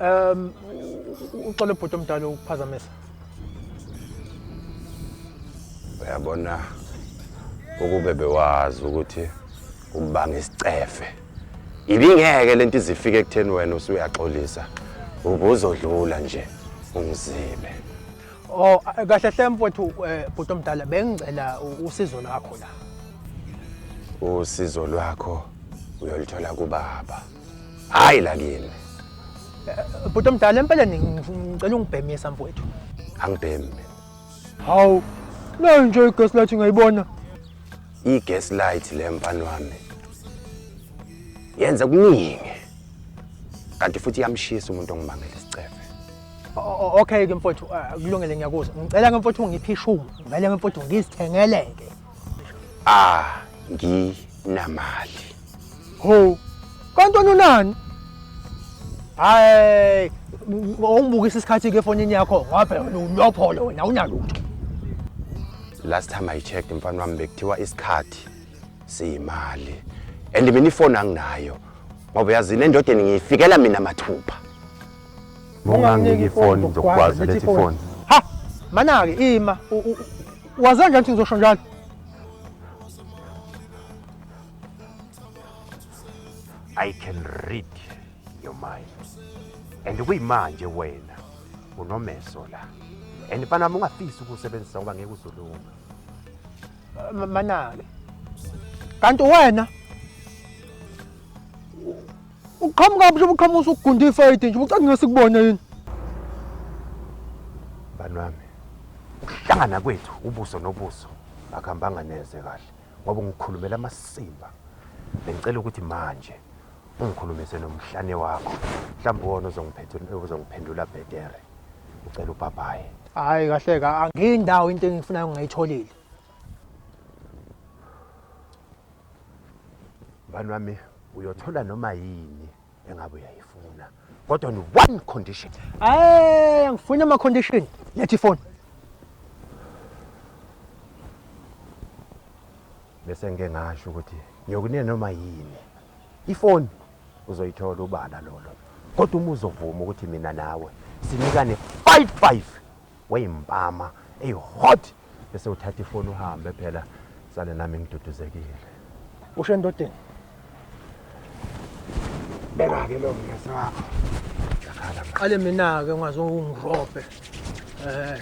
Um uxole bhuti omdala ukuphazamisa. Uyabona ukube bewazi ukuthi ubanga isicefe. Ibingeke lento izifike ekutheni wena usuyaxolisa. Ubuzodlula nje ungizibe. Oh kahle hle mfowethu eh, bhuti omdala bengicela u- usizo lakho la. usizo lwakho uyolithola kubaba hayi la kimi Bhuti omdala empeleni ngif- ngicela ungibhemisa mfowethu. angibhemi mina Hawu. Nayo nje igesi lathi ngayibona. i-gas light le mfana wami yenza kuningi kanti futhi iyamshisa umuntu ongibangela isicefe okay ke mfowethu ah, kulungele ngiyakuzwa ngicela ke mfowethu ungiphe ishumi ngicela ke mfowethu ngizithengeleke ah nginamali ho kanti unani hayi ungibukisa isikhathi ke efonini yakho ngabe ulopholo wena unalutho last time i checked mfana wami bekuthiwa isikhathi siyimali and mina ifoni anginayo ngoba yazi le ndodeni ngiyifikela mina mathupha Unganginiki ifoni ngizokugwaza lethi ifoni. Ha! Manake ima. Waze kanjani ukuthi ngizosho njalo? I can read your mind. And kuyimanje wena unomeso la. And mfana wami ungafisi ukusebenzisa ngoba ngeke uzolunga. Manake. Kanti wena Uqhamuka mhlobo uqhamuka usugunda ifayidi nje ucela ngesikubone yini? Bani wami. Ukuhlangana kwethu ubuso nobuso akuhambanga neze kahle ngoba ngikhulumela amasimba. Bengicela ukuthi manje ungikhulumise nomhlane wakho. Mhlawumbe wona ozongiphendula ozongiphendula bhetere. Ucela ubhabhaye. Hayi kahle ka angindawo into engifunayo ngayitholile. Bani wami uyothola noma yini engabe uyayifuna kodwa ni one condition hayi angifuni ama condition lethi phone bese ngike ngasho ukuthi ngiyokunena noma yini ifoni uzoyithola ubala lolo kodwa uma uzovuma ukuthi mina nawe sinikane 55 weyimpama eyi hot bese uthatha ifoni uhambe phela sale nami ngiduduzekile usho endodeni beka ke lo ngese wakho yakhala manje qale mina ke ungaze ungirobhe eh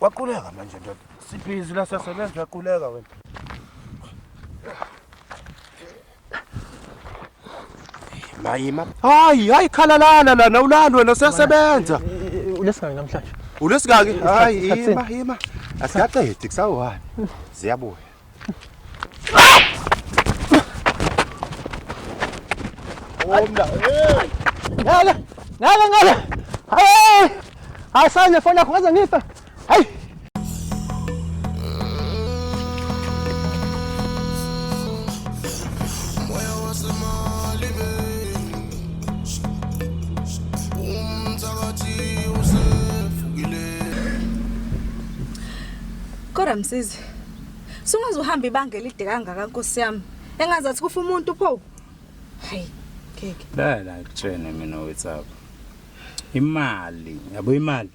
Waquleka manje ndoda. Sibhizi la sasebenza uyaquleka wena. Mayima. Hayi, hayi khalalana lana ulali wena usesebenza. Ulesingaki namhlanje? Ulesingaki? Hayi, ima ima. Asikaqedi kusawani. Ziyabuya. Omla. Hey! Ngale. Ngale ngale. Hayi. Hayi sanje fona yakho ngaze ngifa. Hayi. Kodwa msizi. Sungaze uhambe ibanga elide kangaka nkosi yami. Engazathi kufa umuntu pho. Hayi. Ngeke. La la kutshene mina wethu apha. Imali, yabo imali.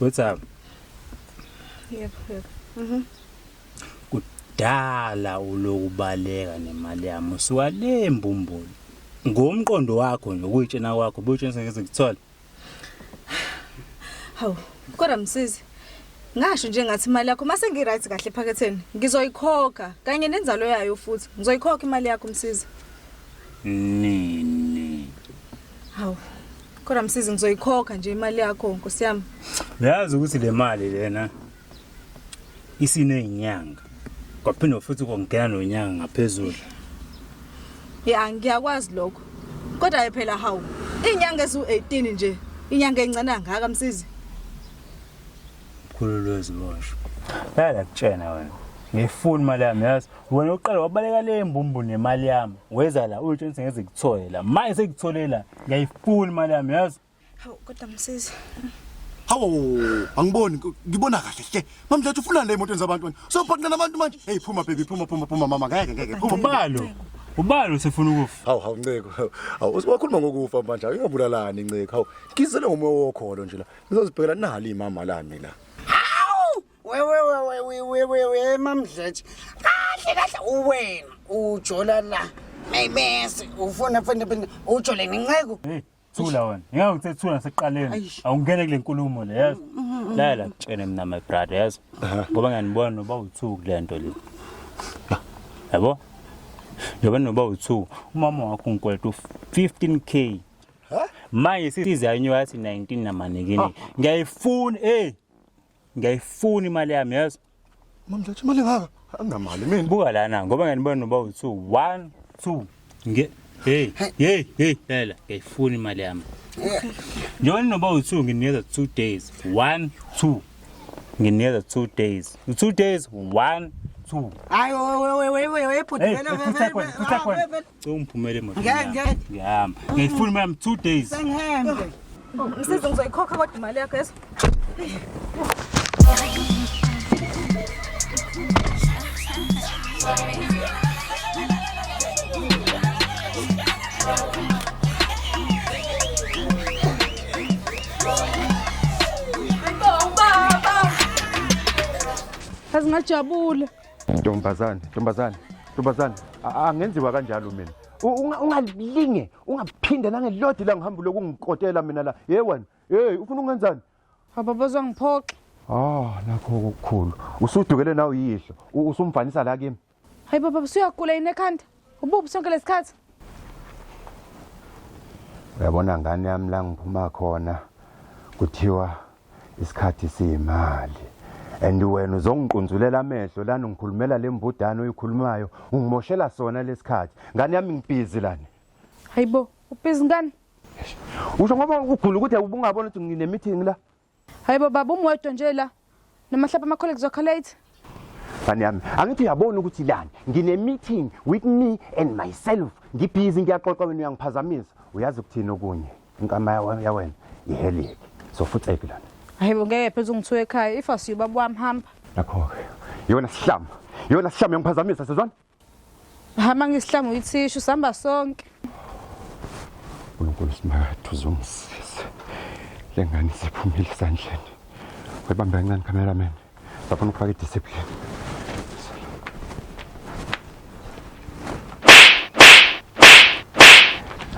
What's up? Yep, yep. Mhm. Kudala ulokubaleka nemali yami usuka le mbumbulu. Ngomqondo wakho nje ukuyitshena kwakho buyitshena ngeze kuthola. Hawu, kodwa msizi. Ngasho nje ngathi imali yakho mase ngi right kahle ephaketheni. Ngizoyikhokha kanye nenzalo yayo futhi. Ngizoyikhokha imali yakho msizi. Nini? Hawu. Kodwa msizi ngizoyikhokha nje imali yakho nkosi yami. Uyazi ukuthi le mali lena isinezinyanga. Kwaphinde futhi kongena nonyanga ngaphezulu. Ya ngiyakwazi lokho. Kodwa phela hawu inyanga ezu18 nje inyanga encane kangaka msizi. Mkhulu lwezi bosho. Yala kutshena wena. Ngifuna imali yami yazi wena uqala wabaleka le mbumbu nemali yami weza la uyotsho ngithi ngeze kuthole la manje sekuthole la ngiyayifuna imali yami yazi hawu kodwa msizi hawu angiboni ngibona kahle hle mamdletshe ufuna le emotweni zabantu sophaqina nabantu manje hey phuma baby phuma phuma phuma mama ngeke ngeke phuma ubalo ubalo usefuna ukufa hawu hawu nceko hawu wakhuluma ngokufa manje uyobulalani nceko hawu ngizele ngomoya wokholo nje la ngizozibhekela nali imama lami la wewewewewewewe mamdletshe kahle kahle uwena ujola la maymese ufuna funa funa ujole nenceku Hey, thula wena ngeke ngithe thula sekuqaleni Eish. awungene kule nkulumo le yazi la la kutshene mina my brother yazi ngoba ngiyanibona noba uthuku kule nto le yabo njengoba noba uthuku umama wakho ngikweleta u-15 k manje size yanyuka yathi 19 namanekini ngiyayifuna eyi ngiyayifuna imali yami yazi mamdletshe imali engaka anginamali mina buka lana ngoba ngiyanibona noba u-two one two nge hey hey hey lela ngiyayifuna imali yami njengoba ninoba u-two nginikeza two days one two nginikeza two days two days one two hayi webhuti Cela ungiphumele emoto. Ngeke ngeke. Ngiyahamba. Ngifuna imali yami 2 days. Sengihambe. Msizi ngizoyikhokha kodwa imali yakho yeso. Kazi ngajabula. Ntombazane, ntombazane, ntombazane, angenziwa kanjalo mina. Ungalinge, ungaphinde nangelodi la ngihambu lokungikotela mina la. Hey wena, hey ufuna ungenzani? Baba bozongiphoxa. Ah, nakho ukukhulu. Usudukele nawe yihlo. Usumfanisa la kimi. Hayi baba, usuyagula yini ekhanda? Ubuphi sonke lesikhathi? Uyabona ngane yami la ngiphuma khona kuthiwa isikhathi siyimali. And wena uzongiqunzulela amehlo lana ungikhulumela lembudana oyikhulumayo ungimoshela sona lesikhathi. Ngane yami ngibhizi lana. Hayibo, ubhizi ngani? Usho ngoba ugula ukuthi ubungabona ukuthi ngine meeting la. Hayibo baba umwedwa nje la. Namahlapa ama colleagues wakho late. Fani yami, angithi uyabona ukuthi lani ngine meeting with me and myself. Ngibhizi ngiyaxoxa wena uyangiphazamisa. Uyazi ukuthini okunye? Inkama yawe- ya wena ihelike. So futhi eki lana. Hayibo ngeke phezulu ngithiwe ekhaya if asiyubaba wami hamba. Nakho-ke. Yona sihlama. Yona sihlama yangiphazamisa sizwana? Hama ngisihlamba uyithishu sihamba sonke. uNkulunkulu simakade uzongisiza le ngane siphumile esandleni webambe kancane cameraman bafuna ukufaka idiscipline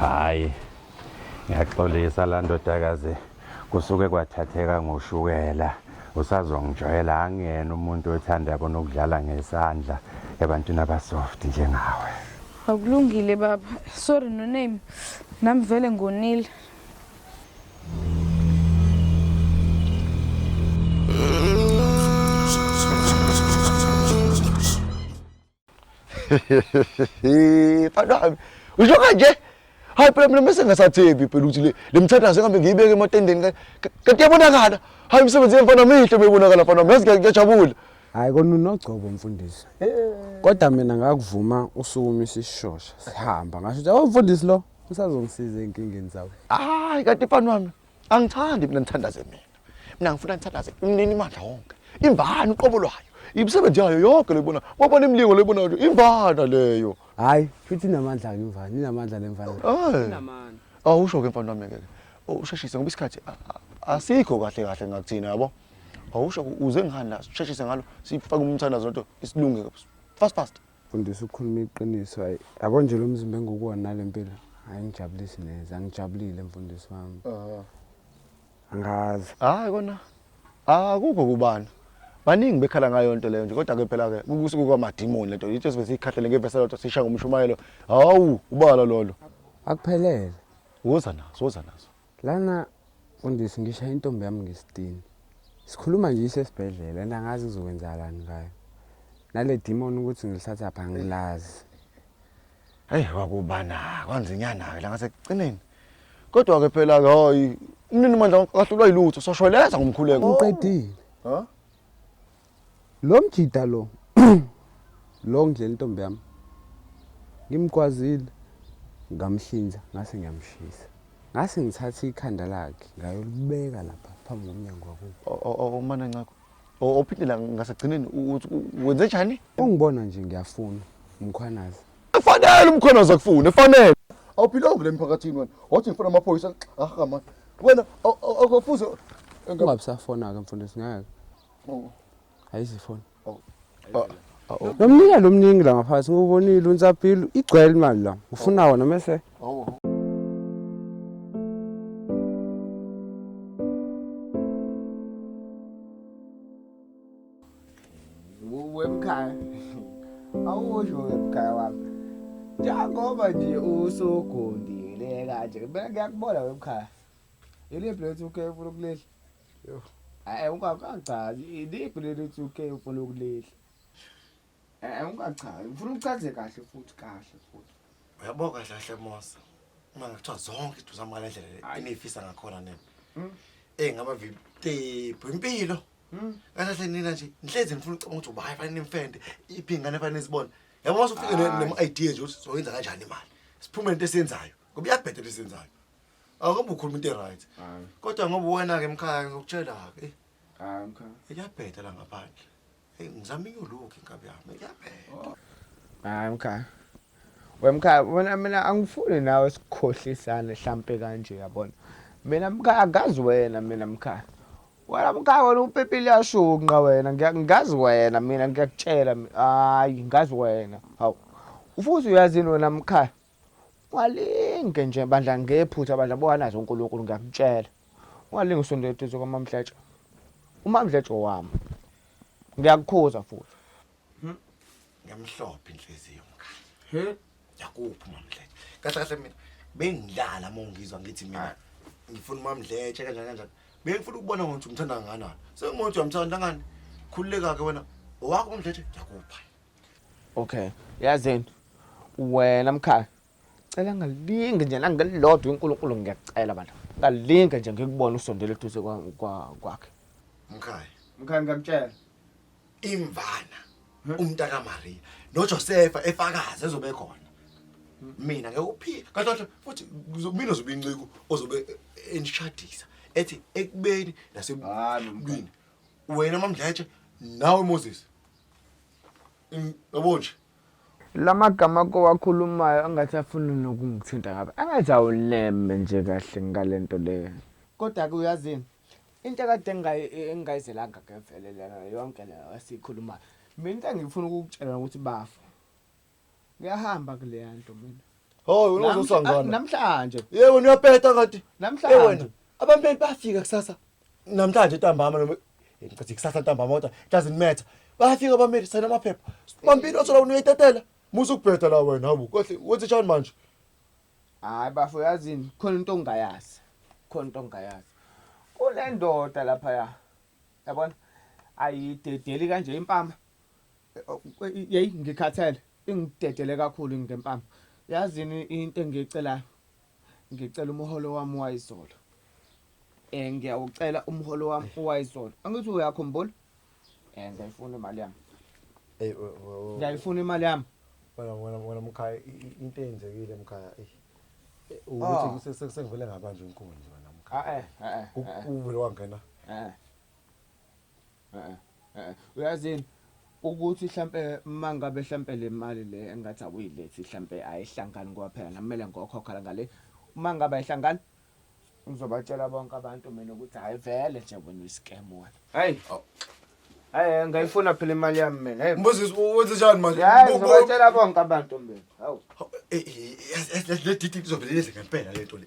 hayi ngiyaxolisa la ndodakazi kusuke kwathatheka ngoshukela usazongijwayela angiyena umuntu othanda yabo nokudlala ngesandla ebantwini abasoft njengawe akulungile baba sorry no name nami vele ngonile mfana wami usho kanje hayi phela mina mese ngasathembi phela ukuthi le le mthandazo engabe ngiyibeke ematendeni ka- ka- kanti yabonakala hayi imisebenzi yemfana mihle uma ibonakala mfana wami yazi ngiya- ngiyajabula hayi kona unogcobo mfundisi kodwa mina ngakuvuma usukuma isishosha sihamba ngasho ukuthi awumfundisi lo usazongisiza ey'nkingeni zawo hayi kanti mfana wami angithandi mina ngithandaze mina mina ngifuna ngithandaze umnini imandla wonke imvana uqobo lwayo imisebenzi yayo yonke loyibona wabona imilingo loyibona nje imvana leyo hayi futhi inamandla ke imvana inamandla lemvana inamandla awusho ke mfana wami ke usheshise ngoba isikhathi asikho kahle kahle ngakuthina yabo awusho uze ngihani la sheshise ngalo sifake umthandazo nto isilunge fast fast Mfundisi ukhuluma iqiniso hayi yabo nje lo mzimba engukuwona nale mpilo hayi ngijabulisi neze angijabulile mfundisi wami angazi hayi kona akukho kubana baningi bekhala ngayo nto leyo nje kodwa ke phela ke kukusuku kwamadimoni lento yithi sibe sikhahlele ngevesa lodwa sisha ngomshumayelo hawu ubala lolo akuphelele woza nazo woza nazo Lana mfundisi ngishaye intombi yami ngesitini. Sikhuluma nje isesibhedlela and angazi kuzokwenzakalani ngayo. Nale demon ukuthi ngilithatha pha ngilazi. Hey kwakubana kwanzinyana ke la ngasekugcineni. Kodwa ke phela ke hayi umnini mandla akahlulwa yilutho soshweleza ngomkhuleko. Uqedile. Ha? Lo mjida lo lo ngidlela intombi yami ngimgwazile ngamhlinza ngase ngiyamshisa ngase ngithatha ikhanda lakhe ngayolibeka lapha phambi komnyango wakubo umana ncakho ophinde la ngasagcineni wenze njani ungibona nje ngiyafuna umkhwanazi efanele umkhwanazi akufune efanele awuphilonge le mphakathini wena wathi ngifuna amaphoyisa ahama wena akufuze ungabisafona-ke mfundisi ngeke ayizifoni oh. oh. oh. nomnika lo mningi la ngaphansi ngubonile unsabhile igcwele imali la ufuna wona mese wemkhaya awusho wemkhaya wami njengoba nje usugundile kanje bengiyakubona wemkhaya yiliphi lethu ukhe ufuna ukulehla Yoh. Hayi ungachazi iliphi leli tsuke ufuna ukulidla. Eh ungachazi ufuna uchaze kahle futhi kahle futhi. Uyabo kahle kahle Mosa. Uma ngithiwa zonke izinto zami ngale ndlela le enifisa ngakhona nina. Hmm. Eh ngaba viptephu impilo. Hmm. Kahle kahle nina nje ngihlezi ngifuna ucabanga ukuthi ubayi fanele nimfende iphi ingane fanele izibone. Yabo mase ufike nema idea nje ukuthi soyenza kanjani imali. Siphume into esiyenzayo. Ngoba iyabhedela esiyenzayo. Awukambe ukhuluma into eright. Hayi. Kodwa ngoba wena ke mkhaya ngizokutshela ke. Hayi mkhaya. Iyabheda la ngaphandle. Hey ngizama inyuluke inkabi yami. Iyabheda. Hayi mkhaya. Wemkhaya wena mina angifuni nawe sikhohlisane hlampe kanje yabona. Mina mkhaya akazi wena mina mkhaya. Wena mkhaya wena upepile yashunqa wena ngiyazi wena mina ngiyakutshela hayi ngazi wena. Hawu. Ufuthi uyazini wena mkhaya. Ungalinge nje bandla ngephutha bandla bowanazo uNkulunkulu ngiyakutshela. Ungalinge usonde eduze kwamamdletshe. Umamdletshe wami. Ngiyakukhuza futhi. Hmm? Ngiyamhlopha inhliziyo mkhaya. He? Yakuphi umamdletshe? Kahle kahle mina bengidlala uma ungizwa ngithi mina ngifuna umamdletshe kanjani kanjani. Bengifuna ukubona ngokuthi umthanda kangakanani. Sengothi uyamthanda ngani? Khululeka-ke wena. Owakho umdletshe ngiyakupha. okay yazini wena mkhaya cela ngalinge nje nangelilodwa unkulunkulu ngiyacela bantu ngalinge nje ngikubona usondela eduze kwa- kwa- kwakhe mkhaya mkhaya ngiyakutshela imvana umntaka Maria noJosefa efakaza ezobe khona mina ngekuphika kanti futhi mina zobe inceku ozobe enishadisa ethi ekubeni nasebini wena mamdletshe nawe Moses yabo nje lamagama kowakhulumayo angathi afuna nokungithinta ngabe angathi awuneme nje kahle ngalento le kodwa ke uyazini into kade engayizelanga ke vele lena yonke lena esikhulumayo mina into engifuna ukukutshela ukuthi bafa Ngiyahamba kuleya nto mina. Hayi wena uzoswa Namhla- ngana. Namhlanje. Yebo wena uyapeta kanti. Eh, wena Namhlanje. abameli bafika kusasa. Namhlanje ntambama noma Eh, ngicathi kusasa ntambama kodwa doesn't matter. Bafika abameli sayina amaphepha. Mampini othola wena uyitetela. Musa ukubheda la wena hawu. Kohle wenze njani manje? Hayi bafo yazini khona into ongayazi. Khona into ongayazi. Kunendoda lapha ya. Yabona? Ayidedeli kanje impama. yeyi ngikhathele ingidedele kakhulu ngempama yazini into engiyicelayo ngicela umholo wami wayizolo um ngiyawucela umholo wami wayizolo angithi uyakhumbula um eh, ngiyayifuna imali yami ngiyayifuna imali yami wena wena wena mkhaya into eyenzekile mkhaya eyi eh, ukuthi ah. sengivele ngabanje inkunzi wena mkhaya ah, eh, uvele wangena Eh, eh, uyazini ukuthi hlampe mangabe hlampe le mali le engathi awuyilethi hlampe ayihlangani ngoba phela nami kumele ngokhokha la ngale uma ngabe ayihlangani ngizobatshela bonke abantu mina ukuthi hhayi vele nje wena uyiscam wena hayi hayi ngayifuna phela imali yami mina hayi Mbusis wenze njani manje? hayi Bo- bo- ngizobatshela bonke abantu mina hawu Eh, eh, yes, yes, yes, le didi izovele yenze ngempela le nto le.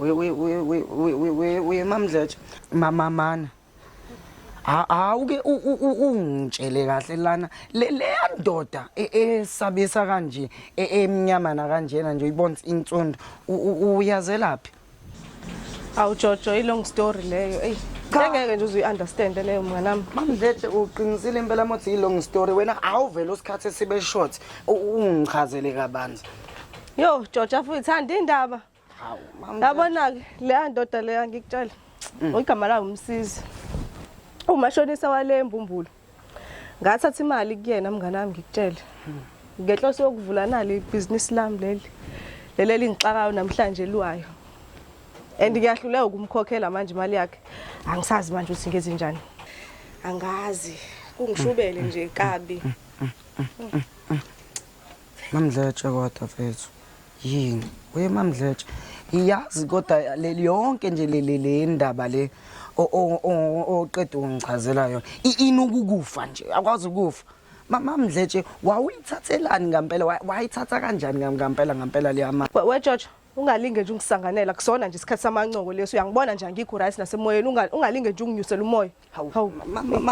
uye mamdletshe mamamana awuke ungitshele kahle lana leya ndoda e, esabisa kanje e, emnyamana kanjena nje uyibona insundu uyazelaphi awu jojo i-long story leyo eyi ngeke nje uzuyi-understand leyo mnganami mamdletshe uqinisile impela mothi i-long story wena awuvele usikhathi esibe short ungichazele kabanzi Yo, Georgia futhi thanda indaba. Hawu, mama. Yabona ke leya ndoda leya ngikutshela. Mm. Igama layo umsizi. Umashonisa wale embumbulu. Ngathatha imali kuyena mngane wami ngikutshele. Mm. Ngenhloso yokuvula nali business lami leli. Leli lingixakayo namhlanje liwayo. And ngiyahluleka ukumkhokhela manje imali yakhe. Angisazi manje ukuthi ngenze njani. Angazi. Kungishubele nje kabi. Mamdletshe kodwa mfethu yini we mamdletshe ngiyazi kodwa le- yonke nje le- le le ndaba le o- o- o- oqeda ungichazela yona I- ini ukukufa nje akwazi ukufa Ma- mamdletshe wawuyithathelani ngampela Wa- wayithatha kanjani ngam- ngampela ngampela leyama We- we George ungalinge nje ungisanganela kusona nje isikhathi samancoko leso uyangibona nje angikho right nasemoyeni Unga- ungalinge nje unginyusela umoya Hawu. Hawu.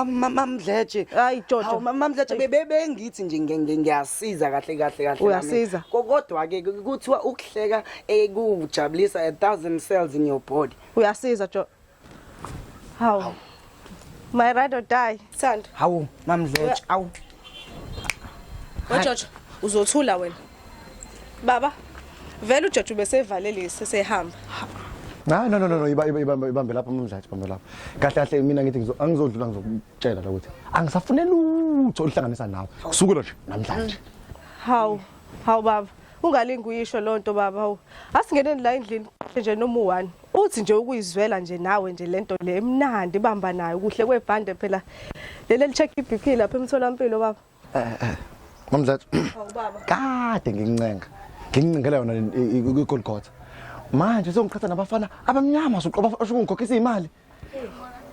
mamdletshe Hayi, Jojo. Hawu, ma- mamdletshe Eish. bebe- bengithi nje nge- nge- ngiyasiza kahle kahle kahle Uyasiza. nami. Ko- kodwa ke kuthiwa ukuhleka eh, kujabulisa a thousand cells in your body uyasiza jo hawu my ride or die Sithando. hawu mamdletshe awu Wajojo uzothula wena. Baba, vele uJojo ubesevale lesi sehamba. Hayi no no no no ibambe ibambe lapha umdlathi ibambe lapha. Kahle kahle mina ngithi ngizo angizodlula ngizokutshela la ukuthi angisafune lutho oluhlanganisa nawe. Kusukela nje namhlanje. Hawu, hawu baba. Ungalingi uyisho lonto baba hawu. Asingeneni la endlini nje noma u1. Uthi nje ukuyizwela nje nawe nje lento le emnandi ibamba nayo kuhle kwebhande phela. Leli check iBP lapha emtholampilo baba. eh eh mamzathu awubaba oh, kade ngincenga ngincengela yona igolgotha manje sengichatha nabafana abamnyama soqoba ashukungikhokhisa imali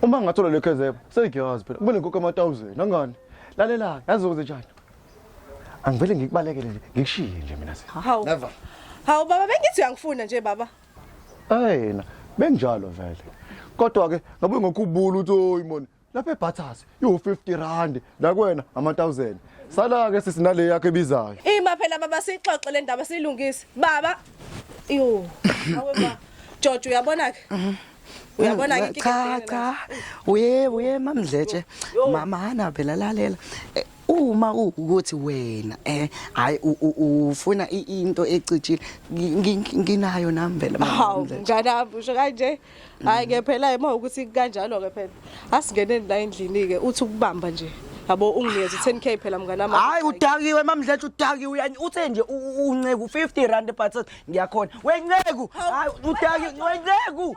uma ngathola le kezebo segiyazi phela kumele ngikho ama 1000 nangani lalela yazi ukuze njani angivele ngikubalekele nje ngikushiye nje mina se hawu never hawu baba bengithi uyangifuna nje baba ayena benjalo vele kodwa ke ngabe ngokubula uthi oyimoni lapha ebhathasi iwu-50 rand nakwena ama-1000 sala-ke sisi nale yakho ebizayo ima phela baba siyixoxe le ndaba siyilungise baba yo awe ba jojo uyabona-ke uyabona ke cha cha uye uye mamdletshe mama hana phela lalela Eh, uma ukuthi wena eh hayi u- u- ufuna i- into ecijile ngi- ngi- nginayo nami phela mama hawu Mdletshe. mnganami usho kanje hayi ke phela uma ukuthi kanjalo ke phela asingeneni la endlini ke uthi ukubamba nje yabo unginikeza 10k phela mngane wami hayi udakiwe mamdletshe udakiwe uyani uthe nje unceku 50 rand but ngiyakhona wenceku hayi udakiwe wenceku